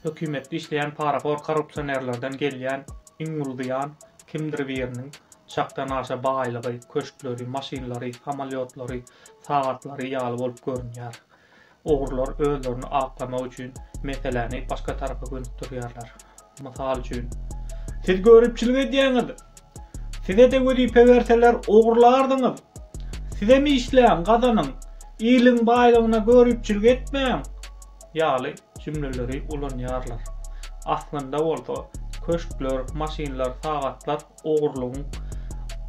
Hökümetde işleýän parahor korrupsionerlerden gelýän iň uly zyýan kimdir biriniň çakdan aşa baýlygy, köşkleri, maşynlary, samolýotlary, sagatlary ýaly bolup görünýär. Ogrular özlerini aklamak üçin meseläni başga tarapa gönükdirýärler. Mysal üçin. Siz göripçilik edýäňiz. Size-de wezipe berseler ogrulardyňyz. Sizem işläň, gazanyň. Iliň baýlygyna göripçilik etmäň. ýaly jümleleri ulanýarlar. Aslynda bolsa, köşkler, maşynlar, sagatlar ogurlygyň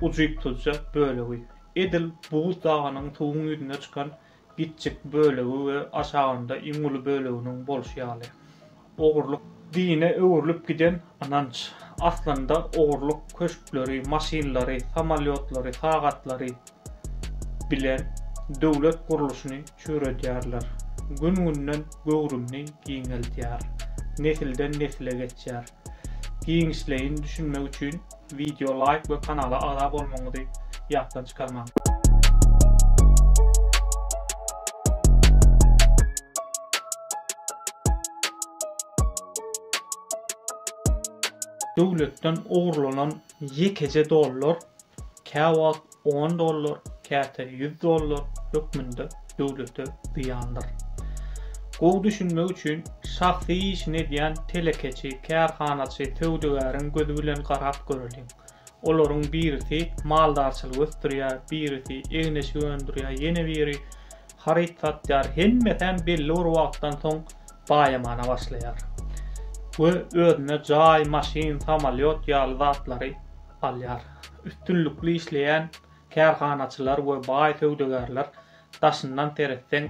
ujypsyzja bölegi. Edil buz dagynyň suwuň ýüzüne çykan gitjik bölegi we aşagynda iň uly böleginiň bolşy ýaly. Ogurlyk dine öwrülip giden Ynanç, aslynda ogurlyk köşkleri, maşynlary, samolýotlary, sagatlary bilen döwlet gurluşyny çüýredýärler. Gün-günden göwrümini giňeldýär. Nesilden-nesile geçýär. Giňişleýin düşünmek üçin Wideo laýk we kanala agza bolmagyňyzy ýatdan çykarmaň. Döwletden ogurlanan ýekeje dollar käwagt On dollar, käte ýüz dollar hökmünde döwlete zyýandyr. Gowy düşünmek üçin, şahsy işini edýän telekeçi, kärhanaçy, söwdagäriň gözi bilen garap göreliň. Olaryň birisi maldarçylyk ösdürýär, birisi egin-eşik öndürýär, ýene biri haryt satýar, hemmesem belli bir wagtdan soň baýamana başlaýar we özüne jaý, maşyn, samolýot ýaly zatlary alýar. Üstünlikli işleýän kärhanaçylar we baý söwdagärler daşyndan seretseň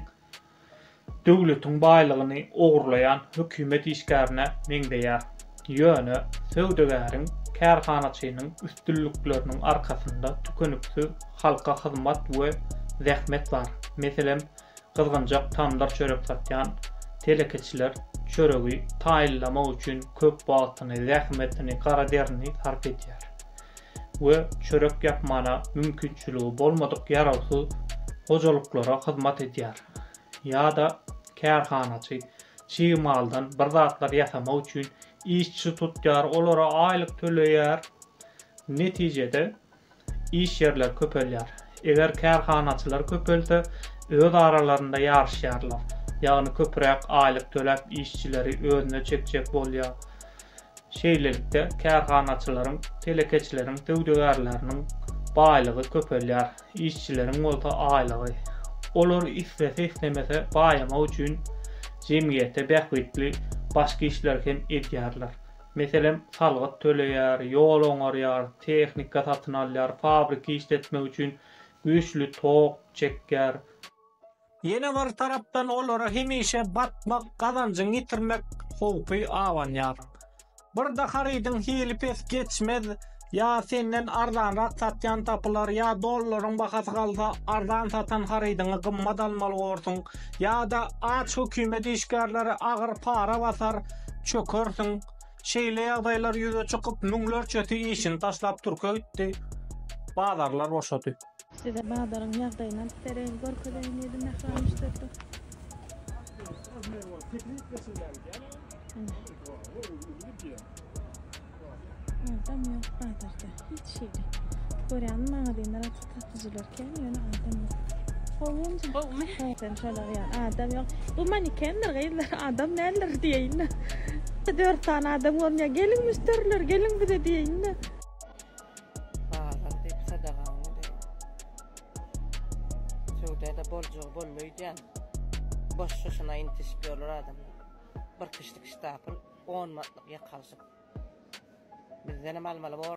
döwletiň baýlygyny ogurlaýan hökümet işgärine meňzeýär. Ýöne söwdagäriň, kärhanaçynyň üstünlikleriniň arkasynda tükeniksiz halka hyzmat we zähmet bar. Meselem, gyzgynjak tamdyr çörek satýan telekeçiler çöregi taýynlamak üçin köp wagtyny, zähmetini, gara derini sarp edýär we çörek ýapmana mümkinçiligi bolmadyk ýarawsyz hojalyklara hyzmat edýär. Ýa-da kärhanaçy çig maldan bir zatlar ýasamak üçin işçi tutýar, olara aýlyk töleýär. Netijede, Iş ýerleri köpelýär. Eger kärhanaçylar köpelse, öz aralarynda ýaryşýarlar. Ýagny köpräk aýlyk töläp işçileri özüne çekjek bolýar. Şeýlelikde, kärhanaçylaryň, telekeçileriň, söwdagärleriniň baýlygy köpelýär, işçileriň bolsa aýlygy. Olar islese-islemese baýamak üçin jemgyýete bähbitli başga işleri hem edýärler. Meselem, salgyt töleýär, ýol oňarýar, tehnika satyn alýar, fabriki işletmek üçin güýçli tok çekýär. Ýene bir tarapdan olara hemişe batmak, gazanjyňy ýitirmek howpy abanýar. Bir-de harydyň hili pes geçmez, Ýa senden arzanrak satýan tapylar ýa dollaryň bahasy galsa arzan satan harydyňy gymmat almaly borsuň ýa-da aç hökümet işgärleri agyr para basar çökersiň. Şeýle ýagdaýlar ýüze çykyp müňlerçesi işini taşlap türke gitdi. Bazarlar boşady. Size bazaryň ýagdaýyny alyp bereýin, görkezeýin diýdi Mähram işdäpdir. Adam ýok bazarda, hiç ýeri. Görýän magazinler açyk, satyjylar kän, ýöne adam ýok. Gowumy? Gowumy? Sen şolar ýaly adam ýok. Bu manekendir gyzlar, adam däldir diýeýin-de. Dört sany adam görünýär. Geliň müşderiler, geliň bize diýeýin-de. Bazar diýip sadagaňy diýip. Söwda-da boljagy boldy öýdýän. Boş şuşuna intişip ýörler adamlar. Bir kişilik ştapl on manatlyk ýek alşyp. Bizdenem almaly bor.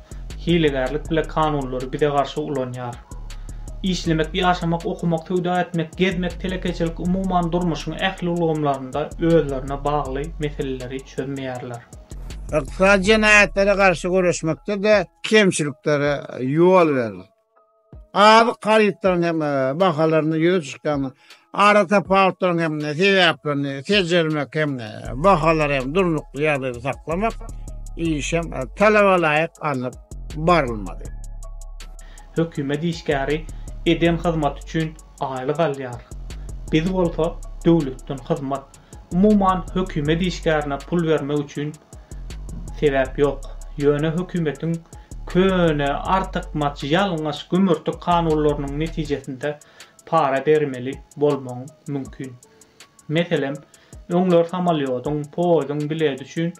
Hilegärlik bile kanunlary bize garşy ulanýar. Işlemek, ýaşamak, okamak, söwda etmek, gezmek, telekeçilik, umuman durmuşyň ähli ulgamlarynda özlerine bagly meseleleri çözmeýärler. Ykdysady jenaýatlara garşy göreşmekde-de kemçiliklere ýol berler. Azyk harytlarynyň hem bahalarynda ýüze çykýan aratapawutlaryň hem sebäplerini seljermek hem bahalary hem durnukly ýagdaýda saklamak işem talaba laýyk alnyp barylmaly. Hökümet işgäri eden hyzmaty üçin aýlyk alýar. Biz bolsa döwletden hyzmat. Umuman, hökümet işgärine pul bermek üçin sebäp ýok. Ýöne hökümetiň köne, artykmaç, ýalňyş gümürtik kanunlarynyň netijesinde para bermeli bolmagyň mümkin. Meselem, öňler samalýodyň, poýuzyň bileti üçin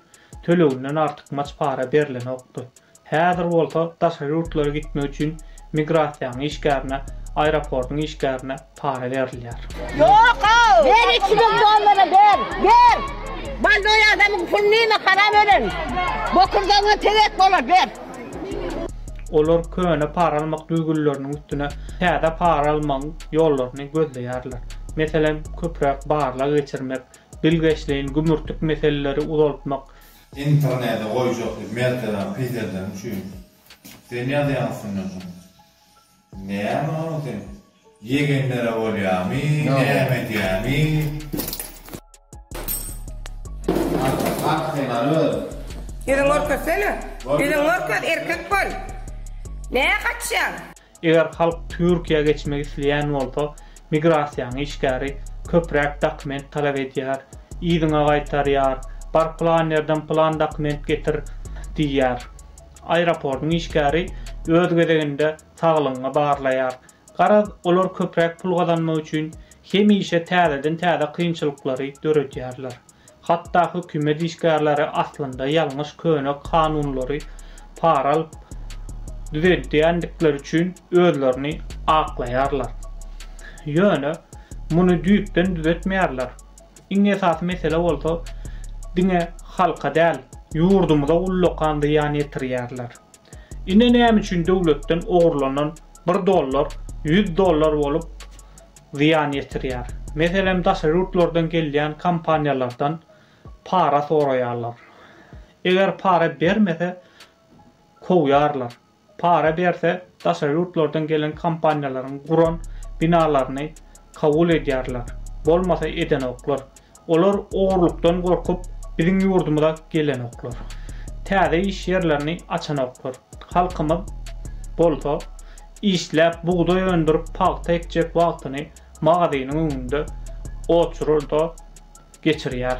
töleginden artykmaç para berlenokdy. Häzir bolsa daşary ýurtlara gitmek üçin migrasiýanyň işgärine, aeroportyň işgärine para berilýär. Ber iki müň dollara ber, ber! Baldoý adamyň pulyny iýme haram ölen! Bokurdagyňa tegek bolar, ber! Olar köne para almak düzgünleriniň üstüne täze para almagyň ýollaryny gözleýärler. Meselem, köpräk barlag geçirmek, bilgeşleýin gümürtik meseleleri uzaltmak, Internede goýjak diýip mertebäňi peseldeň üçin sen ýazýaň üstünden şuny. Näme onuň sen ýegenlere bolýamy näme edýämi. Arka arka sen alyp özüň. Ýüzüňi görkezsene. Ýüzüňi görkez erkek bol. Näme gaçýaň. Eger halk Türkiýä geçmek isleýän bolsa, migrasiýaň işgäri köpräk dokument talap edýär, yzyňa gaýtarýar, bar plan ýerden plan dokument getir diýýär. Aeroportyň işgäri öz gezeginde saglygyňy barlaýar. Garaz, olar köpräk pul gazanmak üçin hemişe täzeden täze kynçylyklary döredýärler. Hatda hökümet işgärleri aslynda ýalňyş köne kanunlary para alyp düzeldýändikleri üçin özlerini aklaýarlar. Ýöne muny düýpden düzetmeýärler. Iň esasy mesele bolsa diňe halka däl, ýurdumyza ullakan zyýan ýetirýärler. Ine näme üçin döwletden ogurlanan bir dollar ýüz dollar bolup zyýan ýetirýär. Meselem, daşary ýurtlardan gelýän kompaniýalardan para soraýarlar. Eger para bermese, kowýarlar. Para berse, daşary ýurtlardan gelen kompaniýalaryň guran binalaryny kabul edýärler, bolmasa edenoklar. Olar ogurlykdan gorkup, biziň ýurdumyza gelenoklar. Täze iş ýerlerini açanoklar. Halkymyz bolsa, işläp, bugdaý öndürip, pagta ekjek wagtyny magazynyň öňünde oçurylda geçirýär.